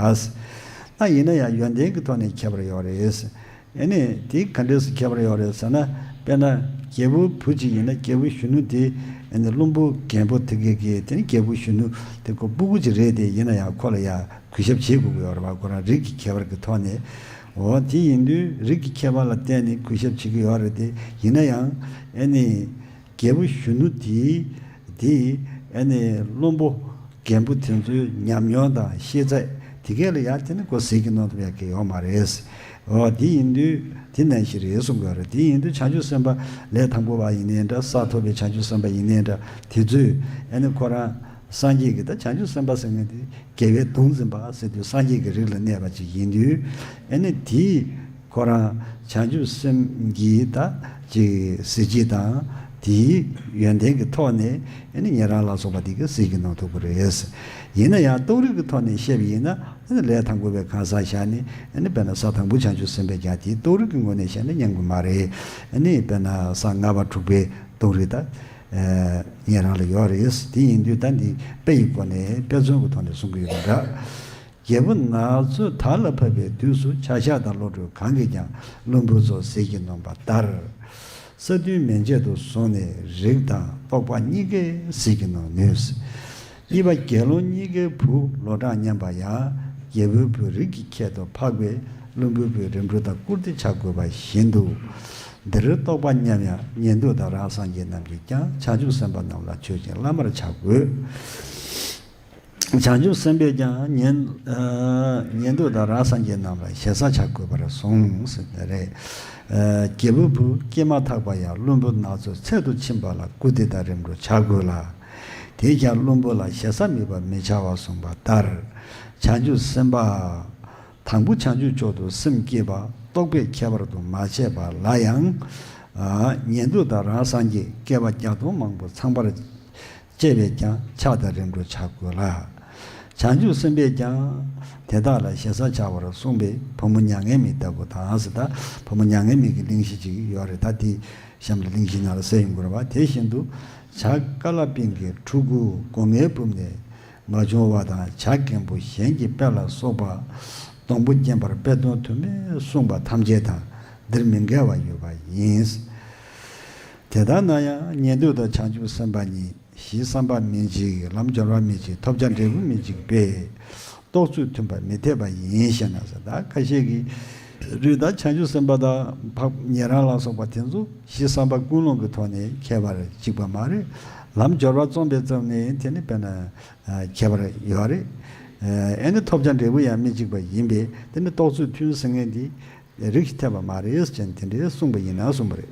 ཨ་ཡིན་ན་ཡང་ཡོན་ཏན་གྱི་ཐོག་ནས་ཁྱད་པར་ཡོད་རེད། ཨེ་ནས་དེ་ག་འདྲས་སུ་ཁྱད་པར་ཡོད་རེད་ཟེར་ན། དཔེར་ན། རྒྱལ་བུ་བུ་གཅིག་ཡིན་ན་རྒྱལ་བུ་གཞོན་ནུ་དེ། ཨེ་ནས་བློན་པོ་རྒན་པོ་དེ་གེ་གེ་དེ་ནི་རྒྱལ་བུ་གཞོན་ནུ་དེ་ཁོ་སྤུ་གུ་གཅིག་རེད་དེ་ཡིན་ན་ཡང་ཁོ་ལ་ཡང་གུས་ཞབས་བྱེད་དགོས་ཀྱི་ཡོད་རེད་བ་ཁོ་རང་རིགས་ཀྱི་ཁྱད་པར་གྱི་ཐོག་ནས། འོ་དེ་ཡིན་དུས་རིགས་ཀྱི་ཁྱད་པར་ལ་བརྟེན་ནས་གུས་ཞབས་བྱེད་ཀྱི་ཡོད་རེད་དེ་ཡིན་ན་ཡང། ཨེ་ནས། རྒྱལ་པོ་གཞོན་ནུ་དེས་དེ་ཨེ་ནས་བློན་པོ་རྒན་པོ་དེ་ཚོའི་ཉམས་མྱོང་དང་ཤེས་ཚད་དེ་གས་ལ་ཡར་དེ་ནི་གོ་ཟེར་གྱི་ནང་དུ་ཡར་གས་ཡོང་མ་རེད། འོ་དེ་ཡིན་དུས་དེ་ནས་ཞིག་རེད་གསུང་གི་རེད་དེ་ཡིན་དུས་བྱང་ཆུབ་སེམས་པ་ལས་དང་པོ་བ་ཡིན་ནའི་འདྲ་ས་ཐོབ་པའི་བྱང་ཆུབ་སེམས་པ་ཡིན་ནའི་འདྲ་དེ་ཚོས་ཨེ་ནས་ཁོ་རང་སངས་རྒྱས་ཀྱི་ད་བྱང་ཆུབ་སེམས་པ་ཟེར་མཁན་དེ་རྒྱལ་བའི་གདུང་འཛིན་པ་ཟེར་དུས་སངས་རྒྱས་ཀྱི་རིགས་ལ་གནས་པ་ཅིག་ཡིན་དུས་ཨེ་ནས་དེའི། ཁོ་རང་བྱང་ཆུབ་སེམས་ཀྱིས་ད་ཅིག་གཟི་བརྗིད་དང་དེའི་ཡོན་ཏན་གྱི་ཐོག་ནས་ངེད་རང་ལ་སོགས་པ་འདི་ག་གཟིགས་ཀྱིས་གནང་ཐུབ་ཀྱི་རེད། ཡིན་ན་ཡང་རྟོགས་རིགས་ཀྱི་ཐོག་ནས་བཤད་པ་ཡིན་ན་ལས་དང་པོ་བའི་གང་ཟག་ཞག་ནི་དཔེར་ན་ས་དང་པོ་བྱང་ཆུབ་སེམས་དཔས་ཀྱང་དེའི་རྟོགས་རིགས་ཀྱི་ངོས་ནས་བཤད་ན་སྙམ་གྱི་མ་རེད། དཔེར་ན་ས་ལྔ་པ་དྲུག་པའི་རྟོགས་རིགས་ད་ངེད་རང་ལ་ཡོད་རེད། དེ་ཡིན་དུས་ད་འདི་དཔེ་ཡི་སྐོར་ནས་དཔེ་མཚོན་གྱི་ཐོག་ནས་གསུང་གི་ཡོད་པ་འདྲ། རྒྱལ་པོ་ནག་ཚོས་དར་ལ་ཕབ་པའི་དུས་སུ་བྱ་གཞག་དང་བློ་གྲོས་གང་གིས་ཀྱང་བློན་པོ་ཚོ་ཟས་ཀྱིས་ནོན་པ་ལྟར། ས་བདུན་མན་ཆད་དུ་སོང་ནས་རིགས་དང་རྟོགས་པ་གཉིས་ཀས་ཟས་ཀྱིས་ནོན་ནུས། གཉིས་པ་དགེ་སློང་གཉིས་ཀའི་བུ་ལོ་གྲངས་མཉམ་པ་ཡང་རྒྱལ་པོའི་བུ་རིགས་ཀྱི་ཁྱད་དུ་འཕགས་པས་བློན་པོའི་བུ་རིམ་གྲོ་དང་བཀུར་སྟི་བྱ་དགོས་པ་བཞིན་དུ། འདིར་རྟོགས་པ་མཉམ་ཡང་ཉན་ཐོས་དང་རང་སངས་རྒྱས་རྣམས་ཀྱིས་ཀྱང་བྱང་ཆུབ་སེམས་དཔའ་རྣམས་ལ་མཆོད་ཅིང་བླ་མར་བྱ་དགོས། བྱང་ཆུབ་སེམས་དཔས་ཀྱང་ཉན་ཐོས་དང་རང་སངས་རྒྱས་རྣམས་ལ་ཞེ་ས་བྱ་དགོས་པར་གསུངས། རྒྱལ་པོ་བུ་སྐྱེས་མ་ཐག་པ་ཡང་བློན་པོ་ནག་ཚོའི་ཚལ་དུ་ཕྱིན་པ་ལ་སྐུ་དེ་དང་རིམ་གྲོ་བྱ་དགོས་ལ། དེས་ཀྱང་བློན་པོ་ལ་ཞེ་ས་མིད་པར་མི་བྱ་བར་གསུངས་པ་ལྟར། བྱང་ཆུབ་སེམས་དཔའ། དང་པོ་བྱང་ཆུབ་མཆོག་ཏུ་སེམས་བསྐྱེད་པ་རྟོགས་པས་ཁྱད་པར་དུ་མ་བྱས་པ་ལ་ཡང། ཉན་ཐོས་དང་རང་སངས་རྒྱས་བསྐལ་པ་བརྒྱ་སྟོང་མང་པོ་ཚང་བར་ཅེས་པས་ཀྱང་ཕྱག་དང་རིམ་གྲོ་བྱ་དགོས་ལ། བྱང་ཆུབ་སེམས་དཔས་ཀྱང། དེ་དག་ལ་ཞེ་ས་བྱ་བར་གསུངས་པས་བུ་མོ་མྱ་ངན་མིག་ལྟ་བུ་དང་ཟི་ད་བུ་མོ་མྱ་ངན་མིག་གི་གླིང་བཞི་ཅིག་ཡོད་རེ་ད་དེའི་གཤམ་དུ་གླིང་བཞི་ན་ལ་སེ་ཡུམ་གུར་བ་དེ་བཞིན་དུ་བྱ་ཀ་ལ་པིང་གི་ཕྲུ་གུ་སྒོ་ངའི་སྦུབས་ནས་མ་བྱུང་བ་དང་བྱ་རྒན་པོ་གཞན་གྱི་དཔེ་ལ་སོགས་པ་སྡོང་པོ་བརྒྱན་པར་དཔེ་སྟོང་དུ་མས་གསུངས་པ་ཐམས་ཅད་དང་འདིར་མི་འགལ་བ་ཡོད་པ་ཡིན། དེ་ལྟར་ན་ཡང་ཉན་ཐོས་དང་བྱང་ཆུབ་སེམས་དཔའ་གཉིས་གཞི་བསམ་པ་མི་འཇིག་ལམ་སྦྱོར་བ་མི་འཇིག་ཐོབ་བྱ་འབྲས་བུ་མི་འཇིག་པས་རྟོགས་ཚུལ་མཐུན་པར་མི་འཐད་པ་ཡིན་ཞེ་ན་ཟད་ད་ཁ་ཤས་ཀྱིས་རིགས་དང་བྱང་ཆུབ་སེམས་དཔའ་དང་འཕགས་ཉན་རང་ལ་སོགས་པ་དེ་ཚོ་གཞི་བསམ་པ་ཀུན་སློང་གི་ཐོག་ནས་ཁྱད་པར་འཇིག་པ་མ་རེད་ལམ་སྦྱོར་བ་རྩོམ་པའི་རྩོམ་ནི་དེ་ནི་དཔེར་ན་ཁྱད་པར་ཡོད་རེད་ཨེ་ནི་ཐོབ་བྱ་འབྲས་བུ་ཡང་མི་འཇིག་པ་ཡིན་པས་དེ་ནི་རྟོགས་ཚུལ་མཐུན་ཟེར་ངེས་འདི་ལས་རིགས་ཀྱི་ཐེག་པ་མ་རེད་ཅེས་དེ་འདྲའི་གསུངས་པ་ཡིན་ན་གསུངས་པ་རེད།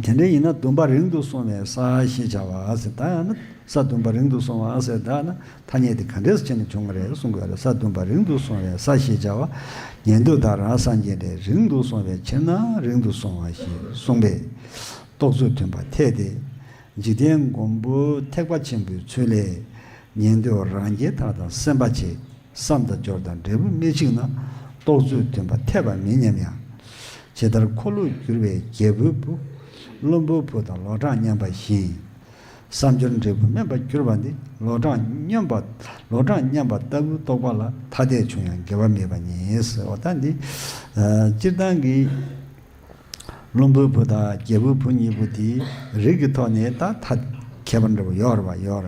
དེ་འདྲའི་ཡིན་ན་བདུན་པ་རིང་དུ་སོང་བའི་ས་ཞེས་བྱ་བ་ཟེར་ད་ཡང་ན་ས་བདུན་པ་རིང་དུ་སོང་བ་ཟེར་ད་ན་ཐ་སྙད་དེ་ག་འདྲས་བྱས་ནས་བྱུང་བ་རེད་གསུངས་དགོས་རེད་ས་བདུན་པ་རིང་དུ་སོང་བའི་ས་ཞེས་བྱ་བ་ཉན་དུས་བདག་རང་སངས་རྒྱས་འདྲའི་རིང་དུ་སོང་བའི་ཕྱིར་ན་རིང་དུ་སོང་བ་ཞེས་གསུངས་པས་རྟོགས་ཚུལ་མཐུན་པར་ཐལ་ཏེ། འཇིག་རྟེན་མགོན་པོའི་ཐེག་པ་ཆེན་པོའི་ཚུལ་ལས། ཉན་ཐོས་རང་རྒྱལ་དག་དང་སེམས་དཔའ་ཆེ་བསམ་དང་སྦྱོར་དང་འབྲས་བུ་སྣེ་གཅིག་ན་རྟོགས་ཚུལ་མཐུན་པ་འཐད་པ་མིན་སྙམ་ཡང། ཇི་ལྟར་འཁོར་ལོས་བསྒྱུར་བའི་རྒྱལ་པོའི་བུ། བློན་པོའི་བུ་དང་ལོ་གྲངས་མཉམ་པ་བཞིན། བསམ་སྦྱོར་འབྲས་བུ་དམན་པར་གྱུར་པ་འདི་ལོ་གྲངས་སྙོམས་པ་ལོ་གྲངས་མཉམ་པ་ལྟ་བུའི་རྟོགས་པ་ལ་ཐ་དད་བྱུང་ཡང་འགལ་བ་མེད་པ་ཉིད། ཟེར་བ་ལྟར་འདི་སྤྱིར་བཏང་གི། བློན་པོའི་བུ་དང་རྒྱལ་པོའི་བུ་གཉིས་པོ་དེའི་རིགས་ཀྱི་ཐོག་ནས་ད་ཐ་ཁྱད་པར་འདྲ་བོ་ཡོད་རེད་བ་ཡོད་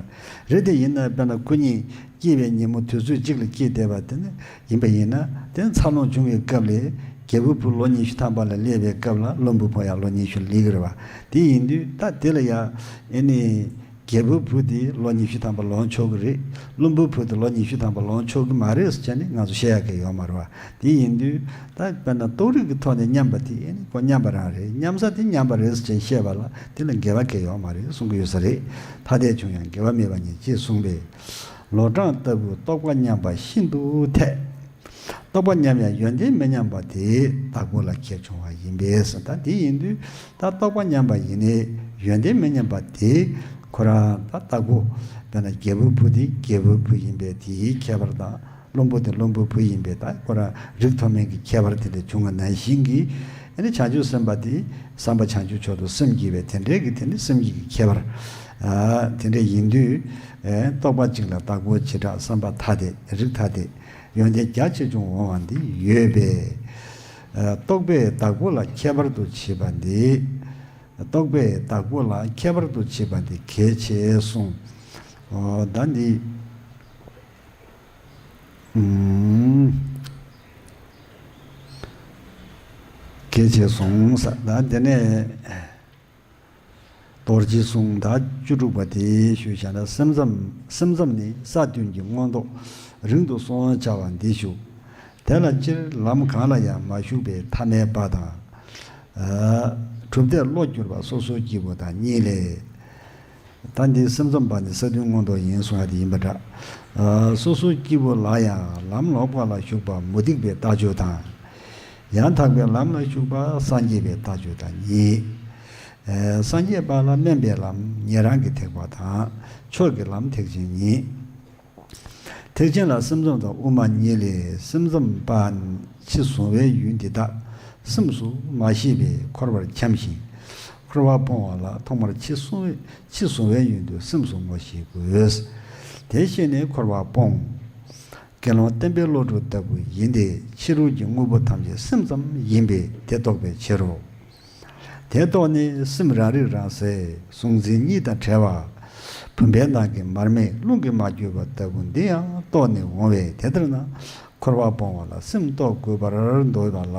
རེད་དེ་ཡིན་ན་དཔེར་ན་སྐུ་ཉིད་སྐྱེས་པའི་ཉིན་མོ་དུས་ཚོད་གཅིག་ལ་སྐྱེས་བསྡད་པ་དེ་ནི་ཡིན་པ་ཡིན་ན་དེ་ནི་འཚར་ལོངས་བྱུང་བའི་སྐབས་ལས་རྒྱལ་པོའི་བུ་ལོ་ཉི་ཤུ་ཐམ་པ་ལ་སླེབས་པའི་སྐབས་ལ་བློན་པོའི་བུ་ཡང་ལོ་ཉི་ཤུ་ལ་སླེབས་གི་རེད་བ་དེ་ཡིན་དུས་ད་དེ་ལ་ཡང་ཨེ་ནི། རྒྱལ་པོའི་བུ་དེ་ལོ་ཉི་ཤུ་ཐམ་པ་ལོངས་ཆོག་གི་རེད། བློན་པོའི་བུ་དེ་ལོ་ཉི་ཤུ་ཐམ་པ་ལོངས་ཆོག་གི་མ་རེད་ཟེར་བྱས་ནས་ང་ཚོ་བཤད་ཡག་གི་ཡོད་མ་རེད་བ། དེ་ཡིན་དུས། ད་དཔེར་ན་རྟོགས་རིགས་ཀྱི་ཐོག་ནས་མཉམ་པ་དེ་ཀོ་མཉམ་པ་རང་རེད་མཉམ་ས་དེ་མཉམ་པ་རེད་ཟེར་བྱས་བཤད་པ་ལ་དེ་ལ་འགལ་བ་གལ་ཡོད་མ་རེད་གསུང་གི་ཡོད་ས་རེད། ཐ་དད་བྱུང་ཡང་འགལ་བ་མེད་པ་ཉིད་ཅེས་གསུངས་པས། ལོ་གྲངས་ལྟ་བུའི་རྟོགས་པ་མཉམ་པ་ཤིན་ཏུ་འཐད། རྟོགས་པ་མཉམ་ཡང་ཡོན་ཏན་མི་མཉམ་པ་དེའི་བདག་པོ་ལ་ཁྱད་བྱུང་བ་ཡིན་པས་ད་དེ་ཡིན་དུས། ད་རྟོགས་པ་མཉམ་པ་ཡིན། ཡོན་ཏན་མི་མཉམ་པ་དེ། ཁོ་རང་ད་ལྟ་བུ། དཔེར་ན་རྒྱལ་པོའི་བུ་དེ་རྒྱལ་པོའི་བུ་ཡིན་པས་དེའི་ཁྱད་པར་དང། བློན་པོ་དེ་བློན་པོའི་བུ་ཡིན་པས་ད་ཁོ་རང་རིགས་མཐོ་དམན་གྱི་ཁྱད་པར་དེ་ལས་བྱུང་བ་ནང་བཞིན་གྱི། ཡང་ན་བྱང་ཆུབ་སེམས་དཔའ་དེ་བསམ་པ་བྱང་ཆུབ་མཆོག་ཏུ་སེམས་བསྐྱེད་པས་དེ་འདྲའི་གི་དེ་ནི་སེམས་བསྐྱེད་ཀྱི་ཁྱད་པར། དེ་འདྲ་ཡིན་དུས། རྟོགས་པ་གཅིག་ལ་བརྟགས་པའི་བྱེ་བྲག་བསམ་པ་ཐ་དད་རིགས་ཐ་དད། ཡོན་ཏན་རྒྱ་ཆེ་ཆུང་འོང་བ་འདི་ཡོད་པས། རྟོག་པའི་བདག་པོ་ལ་ཁྱད་པར་དུ་བྱེད་པ་འདི། རྟོག་པའི་བདག་པོ་ལ་ཁྱད་པར་དུ་བྱེད་པ་འདི་གལ་ཆེ་གསུངས། བདག་འདི། གལ་ཆེ་གསུངས། བདག་འདི་ནས། རྡོ་རྗེ་གསུང་དང་བཅུ་དྲུག་པ་དེ་ཞུ་བྱ་ན་སེམས་ཙམ་ནི་ས་བདུན་གྱི་མངོན་རྟོགས་རིང་དུ་སོང་བྱ་བ་འདི་བཞུགས། དེ་ལ་སྤྱིར་ལམ་གང་ལ་ཡང་མ་ཞུགས་པའི་ཐ་མལ་པ་དང། གྲུབ་མཐས་བློ་བསྒྱུར་བ་སོ་སོའི་སྐྱེས་བུ་དང་གཉིས་ལས། ད་འདིའི་སེམས་ཙམ་པ་ནི་ས་བདུན་མངོན་རྟོགས་ཡིན་གསུང་བ་དེ་ཡིན་པར་གྲགས། སོ་སོའི་སྐྱེས་བུ་ལ་ཡང་ལམ་ལོག་པ་ལ་ཞུགས་པ་མུ་སྟེགས་པའི་ལྟ་སྤྱོད་དང། ཡང་དག་པའི་ལམ་ལ་ཞུགས་པ་སངས་རྒྱས་པའི་ལྟ་སྤྱོད་དང་གཉིས། སངས་རྒྱས་པ་ལ་སྨན་པའི་ལམ་ཉན་རང་གི་ཐེག་པ་དང་ཆོས་ཀྱི་ལམ་ཐེག་ཆེན་གཉིས། ཐེག་ཆེན་ལ་སེམས་ཚོམས་དང་དབུ་མ་གཉིས་ལས་སེམས་ཚོམས་པ། ཕྱི་བཟུང་བའི་ཡུལ་འདི་དག་སེམས་སུ་མ་ཤེས་པས་འཁོར་བར་འཁྱམས་ཤིང། འཁོར་བ་སྤོང་བ་ལ་ཐོག་མར་ཕྱི་བཟུང་བའི་ཡུལ་འདི་སེམས་སུ་ངོ་ཤེས་དགོས། དེ་ཤེས་ནས་འཁོར་བ་སྤོང། དགེ་སློང་བསྟན་པའི་བློ་གྲོས་ལྟ་བུ་ཡིན་ཏེ་ཕྱི་རོལ་གྱི་དངོས་པོ་ཐམས་ཅད་སེམས་ཙམ་ཡིན་པས་དེ་རྟོགས་པའི་ཕྱིར་རོ། དེ་རྟོགས་ནས་སེམས་རང་རིག་རང་གསལ་གཟུང་འཛིན་གཉིས་དང་བྲལ་བ། བུམ་པའི་ནང་གི་མར་མེ་རླུང་གིས་མ་བསྐྱོད་པ་ལྟ་བུ་འདི་ཡང་རྟོགས་ནས་འོང་བས་དེ་ལྟར་ན་འཁོར་བ་སྤོང་བ་ལ་སེམས་རྟོགས་དགོས་པར་འདོད་པ་ལ།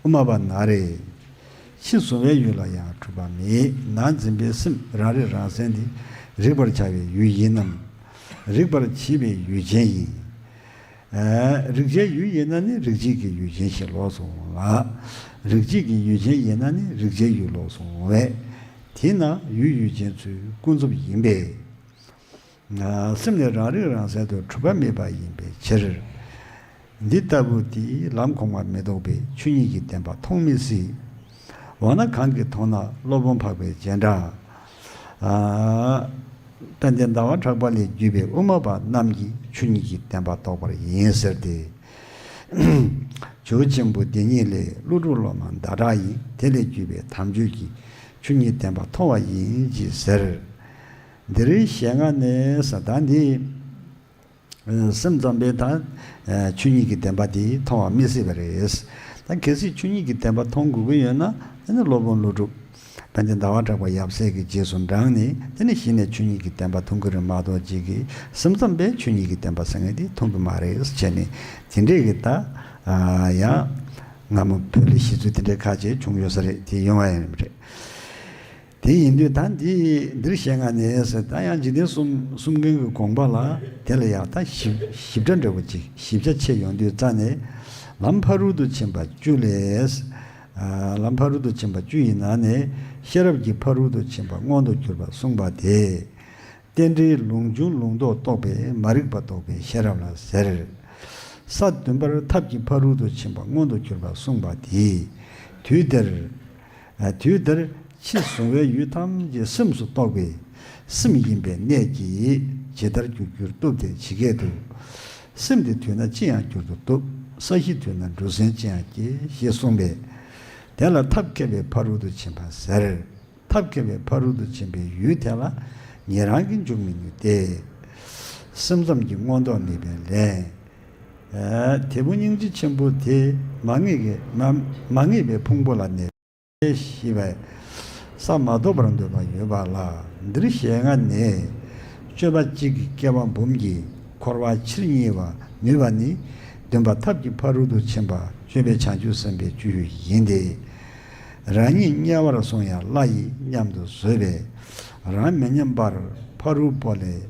དབུ་མ་པ་ན་རེ། ཕྱིས་གཟུང་བའི་ཡུལ་ལ་ཡང་འཁྲུལ་པ་མེད་ན་འཛིན་པའི་སེམས་རང་རིག་རང་གསལ་འདི་རིག་པར་བྱ་བའི་ཡུལ་ཡིན་ནམ། རིག་པར་བྱེད་པའི་ཡུལ་ཅན་ཡིན། རིག་བྱའི་ཡུལ་ཡིན་ན་ནི་རིག་བྱེད་ཀྱི་ཡུལ་ཅན་ཞེས་ལོགས་སུ་འོང་ལ། རིག་བྱེད་ཀྱི་ཡུལ་ཅན་ཡིན་ན་ནི་རིག་བྱའི་ཡུལ་ལོགས་སུ་འོང་བས། དེས་ན་ཡུལ་ཡུལ་ཅན་ཚུལ་ཀུན་རྫོབ་ཡིན་པས། སེམས་ནི་རང་རིག་རང་གསལ་དུ་གྲུབ་པ་མེད་པ་ཡིན་པའི་ཕྱིར། འདི་ལྟ་བུ་དེ་ལམ་གོང་མ་མི་ལྡོག་པའི་ཆོས་ཉིད་ཀྱི་བདེན་པ་མཐོང་མི་སྲིད། འོ་ན་གང་གིས་མཐོང་ན་སློབ་དཔོན་འཕགས་པའི་རྗེས་འབྲང། དཔལ་ལྡན་ཟླ་བ་གྲགས་པ་ལས་བརྒྱུད་པའི་དབུ་མ་པ་རྣམས་ཀྱིས་ཆོས་ཉིད་ཀྱི་བདེན་པ་རྟོགས་པར་ཡིན་ཟེར་ཏེ། བྱུར་ཆེན་པོ་འདི་ཉིད་ལས་ཀླུ་སྒྲུབ་སློབ་མ་ཟླ་གྲགས་ཡིན་དེ་ལས་བརྒྱུད་པའི་དམ་ཆོས་ཀྱི་ཆོས་ཉིད་བདེན་པ་མཐོང་བ་ཡིན་གྱིས་ཟེར། འདིར་ཞལ་སྔ་ནས་ས་བདག་འདིས། སེམས་ཙམ་པས་ད་ཆུ་གཉིས་ཀྱི་བདེན་པ་དེ་མཐོང་བ་མི་སྲིད་པ་རེད། ད་གལ་སྲིད་ཆུ་གཉིས་ཀྱི་བདེན་པ་མཐོང་དགོས་ཀྱི་ཡོད་ན་དེ་ནི་སློབ་དཔོན་ཀླུ་སྒྲུབ་བན་དེ་ཟླ་བ་གྲགས་པ་ཡབ་སྲས་ཀྱི་རྗེས་སུ་འབྲངས་ནས་དེ་ནས་གཞི་ནས་ཆུ་གཉིས་ཀྱི་བདེན་པ་མཐོང་གི་རེད་མ་གཏོགས་རྗེས་ཀྱི་སེམས་ཙམ་པས་ཆུ་གཉིས་ཀྱི་བདེན་པ་ཟེར་ངེས་དེ་མཐོང་གི་མ་རེད་བྱས་ནས་དེ་འདྲས་ཀྱི་ད་ཡང་སྔ་མོ་བོད་ལ་གཞི་རྩོད་དེ་འདྲས་ཁ་ཆེ་བྱུང་ཡོད་ས་རེད་དེ་ཡོང་བ་ཡང་རེད། དེ་ཡིན་དུས་ད་འདི་འདིར་ཞེ་ང་ནི་ཟེར་ད་ཡང་འཇིག་རྟེན་གསུམ་གསུམ་མཁན་གྱི་དགོངས་པ་ལ་དེ་ལ་ཡང་ད་ཞིབ་ཕྲ་འདྲ་བོ་ཅིག་ཞིབ་ཆ་ཆེ་ཡོང་དུས་རྩ་ནས་ལམ་ཕ་རོལ་ཏུ་ཕྱིན་པ་བཅུ་ལས། ལམ་ཕ་རོལ་ཏུ་ཕྱིན་པ་བཅུ་ཡི་ནང་ནས་ཤེས་རབ་ཀྱི་ཕ་རོལ་ཏུ་ཕྱིན་པ་མངོན་དུ་གྱུར་པ་གསུངས་པ་དེ། རྟེན་འབྲེལ་ལུང་འབྱུང་ལུང་རྟོགས་རྟོགས་པས་མ་རིག་པ་རྟོགས་པའི་ཤེས་རབ་ལ་ཟེར། ས་བདུན་པར་ཐབས་ཀྱི་ཕ་རོལ་ཏུ་ཕྱིན་པ་མངོན་དུ་གྱུར་པ་གསུངས་པ་དེས། དུས་དེར། དུས་འདིར་ཕྱི་གཟུང་བའི་ཡུལ་ཐམས་ཅད་སེམས་སུ་རྟོགས་པས་སེམས་ཡིན་པའི་གནད་ཀྱིས་ཇི་ལྟར་འགྱུར་འགྱུར་བཏུབ་སྟེ་ཇི་སྐད་དུ། སེམས་ཀྱི་དུས་ན་ཅི་ཡང་འགྱུར་དུ་བཏུབ། ས་གཞིའི་དུས་ན་འབྲུ་གཟན་ཅི་ཡང་སྐྱེ་ཞེས་གསུངས་པས། དེ་ལ་ཐབས་མཁས་པའི་ཕ་རོལ་ཏུ་ཕྱིན་པ་ཟེར། ཐབས་མཁས་པའི་ཕ་རོལ་ཏུ་ཕྱིན་པའི་ཡུལ་དེ་ལ་ངེད་རང་གིས་འཇུག་མི་ནུས་ཏེ། སེམས་ཙམ་གྱི་མངོན་རྟོགས་མེད་པས་ལན། དེ་ཕོ་སྙིང་རྗེ་ཆེན་པོ་དེ་མ་ངེས་པའི་ཕུང་པོ་ལ་གནས་པའི་ཤི་བའི་ས་མ་ཐོབ་པར་འདོད་པ་ཡོད་པ་ལ་འདིར་ཞེ་ལྔ་ནས་སྤྱོད་པ་གཅིག་གིས་སྐྱེ་བ་འབུམ་གྱིས་འཁོར་བ་ཕྱིར་བསྙིལ་བར་ནུས་པ་ནི་འདུན་པ་ཐབས་ཀྱི་ཕ་རོལ་ཏུ་ཕྱིན་པ་སྤྱོད་པའི་བྱང་ཆུབ་སེམས་དཔའི་བཅུད་ཡིན་ཏེ། རང་ཉིད་དམྱལ་བར་སོང་ཡང་བླ་ཡིས་མཉམ་དུ་བཟོད་པས་རང་མི་ཉམས་པར་ཕ་རོལ་པོ་ལས།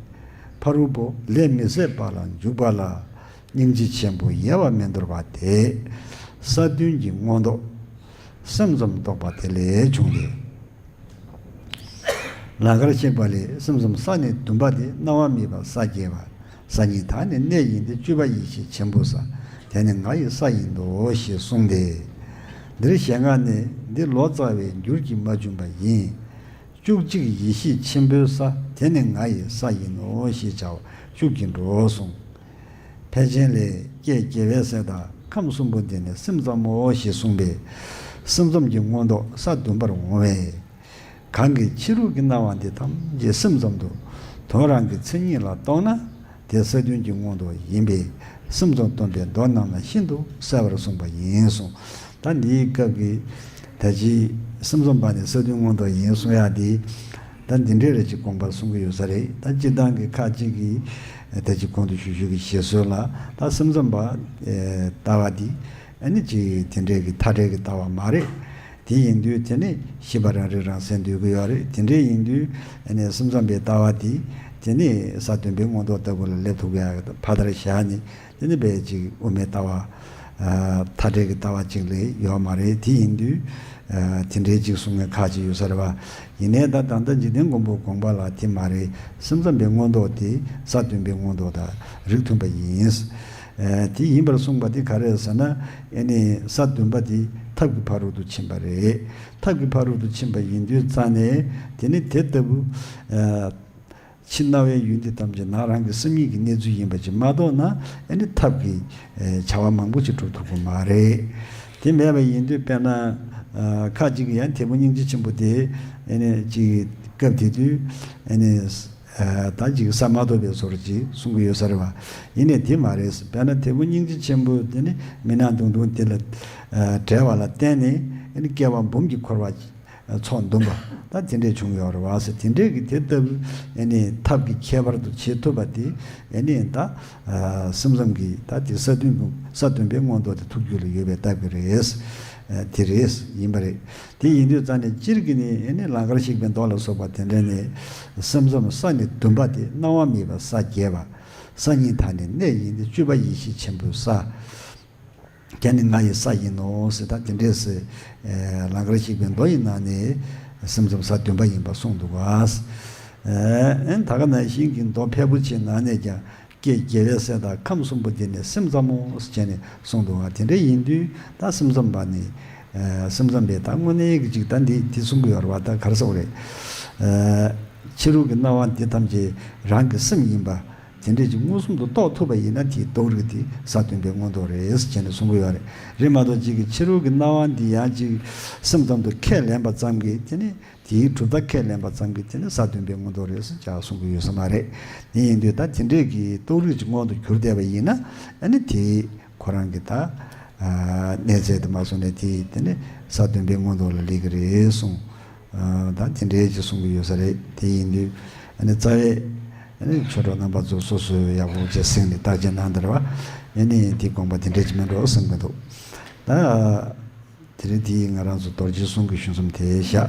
ཕ་རོལ་པོ་ལས་མི་ཟད་པ་ལ་འཇུག་པ་ལ་སྙིང་རྗེ་ཆེན་པོ་ཡལ་བར་མི་འདོར་བ་དེས་ས་བདུན་གྱི་མངོན་རྟོགས་སེམས་ཙམ་རྟོགས་པ་དེ་ལས་བྱུང་སྟེ། ལ་ཁར་གཤེགས་པ་ལས་སེམས་ཙམ་ས་ནི་བདུན་པ་དེ་སྣང་བ་མེད་པ་ས་བརྒྱད་པ་ས་གཉིས་དག་ནི་གནས་ཡིན་ཏེ་བཅུ་པ་ཡེ་ཤེས་ཆེན་པོ་ས་དེ་ནི་ང་ཡི་ས་ཡིན་ཏོ་ཞེས་གསུངས་ཏེ། འདིར་ཞལ་སྔ་ནས་འདི་ལོ་ཙཱ་བའི་འགྱུར་གྱིས་མ་བྱུང་བ་ཡིན། བཅུ་གཅིག་ཡེ་ཤེས་ཆེན་པོའི་ས་དེ་ནི་ང་ཡི་ས་ཡིན་ནོ་ཞེས་བྱ་བ་ཤུགས་ཀྱིས་འགྲོ་གསུངས། ཕལ་ཆེན་ལས་ཀྱེ་རྒྱལ་བའི་སྲས་དག་ཁམས་གསུམ་པོ་འདི་ནི་སེམས་ཙམ་མོ་ཞེས་གསུངས་པས། སེམས་ཙམ་གྱི་མངོན་རྟོགས་ས་བདུན་པར་འོང་བས། གང་གིས་ཕྱི་རོལ་གྱི་སྣང་བ་འདི་ཐམས་ཅད་སེམས་ཙམ་དུ་དོན་རང་གི་མཚན་ཉིད་ལ་རྟོགས་ན། དེ་ས་བདུན་གྱི་མངོན་རྟོགས་ཡིན་པས་སེམས་ཙམ་སྟོན་པའི་མདོ་རྣམས་ལ་ཤིན་ཏུ་གསལ་བར་གསུངས་པ་ཡིན་གསུངས། ད་འདིའི་སྐབས་ཀྱི། ད་ཅི། སེམས་ཙམ་པ་ནི་ས་བདུན་མངོན་རྟོགས་ཡིན་གསུངས་ཡ་དེ། ད་འདི་འདྲའི་རེ་གཅིག་དགོངས་པར་གསུང་གི་ཡོད་ས་རེད་ད་སྤྱིར་བཏང་གི་ཁ་ཅིག་གིས། ད་ཅི་གོང་དུ་ཞུ་ཞུ་གི་བཞེད་སྲོལ་ལ་ད་སེམས་ཙམ་པ། ལྟ་བ་འདི། ནི་ཅི། དེ་འདྲའི་གི་མཐའ་བྲལ་གི་ལྟ་བ་མ་རེད། དེ་ཡིན་དུས་དེ་ནི་ཤི་བ་རང་རིག་རང་གསལ་འདོད་ཀྱི་ཡོད་རེད་དེ་འདྲའི་ཡིན་དུས་ནས་སེམས་ཙམ་པའི་ལྟ་བ་དེ་དེ་ནི་ས་སྟོན་པའི་མངོན་རྟོགས་ལྟ་བུ་ལ་སླེབས་ཐུབ་ཀྱི་ཡ་ཕ་ལྟར་བཞག་ནས་དེ་ནི་བེད་ཅིག་དབུ་མའི་ལྟ་བ། མཐའ་བྲལ་གྱི་ལྟ་བ་གཅིག་ལས་ཡོད་མ་རེད་དེ་ཡིན་དུས་དེ་འདྲའི་གཅིག་གསུང་མཁན་ཁག་ཅིག་ཡོད་ས་རེད་བ་ཡིན་ནས་ད་ད་ལྟ་འཇིག་རྟེན་མགོན་པོའི་དགོངས་པ་ལ་དེ་མ་རེད་སེམས་ཙམ་པའི་མངོན་རྟོགས་དེ་ས་སྟོན་པའི་མངོན་རྟོགས་དང་རིགས་མཐུན་པ་ཡིན། དེ་ཡིན་པར་གསུངས་པ་དེ་ག་རེད་ཟེར་ན་ཨེ་ནི་ས་བདུན་པ་དེ་ཐབས་ཀྱི་ཕ་རོལ་ཏུ་ཕྱིན་པ་རེད། ཐབས་ཀྱི་ཕ་རོལ་ཏུ་ཕྱིན་པ་ཡིན་དུས་རྩ་ནས་དེ་ནི་དེ་ལྟ་བུ། ཕྱི་རྣ་བའི་ཡུལ་འདི་ཐམས་ཅད་ནང་རང་གི་སེམས་ཉིད་ཀྱི་གནས་ཚུལ་ཡིན་པ་ཅིག་མ་གཏོགས་ན་ཨེ་ནི་ཐབས་ཀྱི་བྱ་བ་མང་པོ་ཅིག་གྲུབ་ཐུབ་ཀྱི་མ་རེད། དེ་མེད་པ་ཡིན་དུས་དཔེར་ན་ཁ་ཅིག་གིས་ཡང་དེ་ཕོ་སྙིང་རྗེ་ཆེན་པོ་དེ་ཨེ་ནི་ཅིག་སྐབས་དེ་དུས་ཨེ་ནི། ད་འཇིགས་ས་མ་ཐོབ་པའི་ཟོར་གྱིས་གསུང་གི་ཡོད་ས་རེད་བ། ཡིན་ནས་དེ་མ་རེད་བས་ན་དེ་ཕོ་སྙིང་རྗེ་ཆེན་པོ་དེ་ནི་མི་ནག་དུང་དུང་དེ་ལ་བྲལ་བ་ལ་བརྟེན་ནས་བསྐལ་བ་འབུམ་གྱི་འཁོར་བ་ཚོགས་འདུམ་པ་ད་དེ་འདྲས་བྱུང་ཡོད་རེད་བ། དེ་འདྲས་ཀྱི་དེ་ལྟ་བུའི་ཐབས་ཀྱི་ཁྱད་པར་དུ་བྱེད་ཐུབ་པ་དེ་ད་སེམས་ཙམ་གྱི་ད་དེ་ས་བདུན་པའི་མངོན་རྟོགས་དེ་ཐུགས་རྒྱུད་ལ་ཡོད་པའི་སྟབས་ཀྱི་རེད། དེ་རེད་ཡིན་པ་རེད། དེ་ཡིན་དུས་རྩ་ནས་སྤྱིར་གྱི་ནི་ནི་ལང་ཀར་ཞིག་པའི་མདོ་ལ་སོགས་པ་དེ་འདྲས་ནི། སེམས་ཙམ་ས་ནི་བདུན་པ་སྟེ་སྣང་བ་མེད་པའི་ས་བརྒྱད་པ། ས་གཉིས་དག་ནི་གནས་ཡིན་ཏེ་བཅུ་པ་ཡེ་ཤེས་ཆེན་པོའི་ས། བརྒྱད་ནི་ང་ཡི་ས་ཡིན་ནོ་ཞེས་དག་དེ་འདྲས་སེ། ལང་ཀར་ཞིག་པའི་མདོ་ཡི་ནང་ནས། སེམས་ཙམ་ས་བདུན་པ་ཡིན་པར་གསུངས་འདུག་བ། ད་ག་ན་ཤིང་གི་མདོ་ཕལ་པོ་ཆེའི་ནང་ནས་ཀྱང་ཀྱེ་རྒྱལ་བའི་སྲས་དག་ཁམས་གསུམ་པོ་འདི་ནི་སེམས་ཙམ་མོ་ཞེས་ནས་གསུངས་འདུག་ང་དེ་འདྲ་ཡིན་དུས་ད་སེམས་ཙམ་པ་ནི། སེམས་ཙམ་པས་ད་དངོས་གནས་ཡིག་གཅིག་ད་འདི་འདི་གསུང་གི་ཡོད་རེད་བ་ད་གར་སོང་རེད། ཕྱི་རོལ་གྱི་སྣང་བ་འདི་ཐམས་ཅད་རང་གི་སེམས་ཡིན་པ། དེ་འདྲས་ཀྱི་མངོན་སུམ་དུ་རྟོགས་ཐུབ་པ་ཡིན་ན་དེའི་རྟོགས་རིགས་འདི་ས་སྟོན་པའི་མངོན་རྟོགས་རེད་ཅེས་ནས་གསུང་གི་ཡོད་རེད་མ་གཏོགས་གཅིག་གིས་ཕྱི་རོལ་གྱི་སྣང་བ་འདི་ཡང་གཅིག་སེམས་ཙམ་དུ་ཁས་ལེན་པ་ཙམ་གྱིས་དེ་ནི། དེའི་གྲུབ་མཐའ་ཁས་ལེན་པ་ཙམ་གྱིས་དེ་ནི་ས་བདུན་པའི་མངོན་རྟོགས་རེད་ཟེར་ཅག་གསུང་གི་ཡོད་ས་མ་རེད་ནི་ཡིན་དུས་ད་དེ་འདྲས་ཀྱི་རྟོགས་རིགས་ཅིག་མངོན་དུ་གྱུར་བསྡད་པ་ཡིན་ན་ནི་དེ་ཁོ་རང་གི་ད་གནས་ཚད་དུ་མ་བཟུང་ནས་དེ་དེ་ནི་ས་བདུན་པའི་མངོན་རྟོགས་ལ་ལེགས་ཀྱི་རེད་གསུང་ད་དེ་འདྲས་ཅིག་གསུང་གི་ཡོད་ས་རེད་དེ་ཡིན་དུས་ནི་རྩ་བའི་ནི་ཆོས་གྲོགས་རྣམ་པ་ཚོ་སོ་སོའི་ཡག་པོ་བྱས་གསེང་ནས་བརྟག་དཔྱད་གནང་དེར་བ་ཡིན་ནི་དེ་དགོངས་པ་དེ་འདྲས་ཅིག་མིན་འགྲོ་བསམ་གྱི་འདུག་ད་དེ་རིང་དེའི་ང་རང་ཚོ་རྡོར་རྗེའི་གསུང་གི་གཞུང་གསུམ་དེ་བཞག།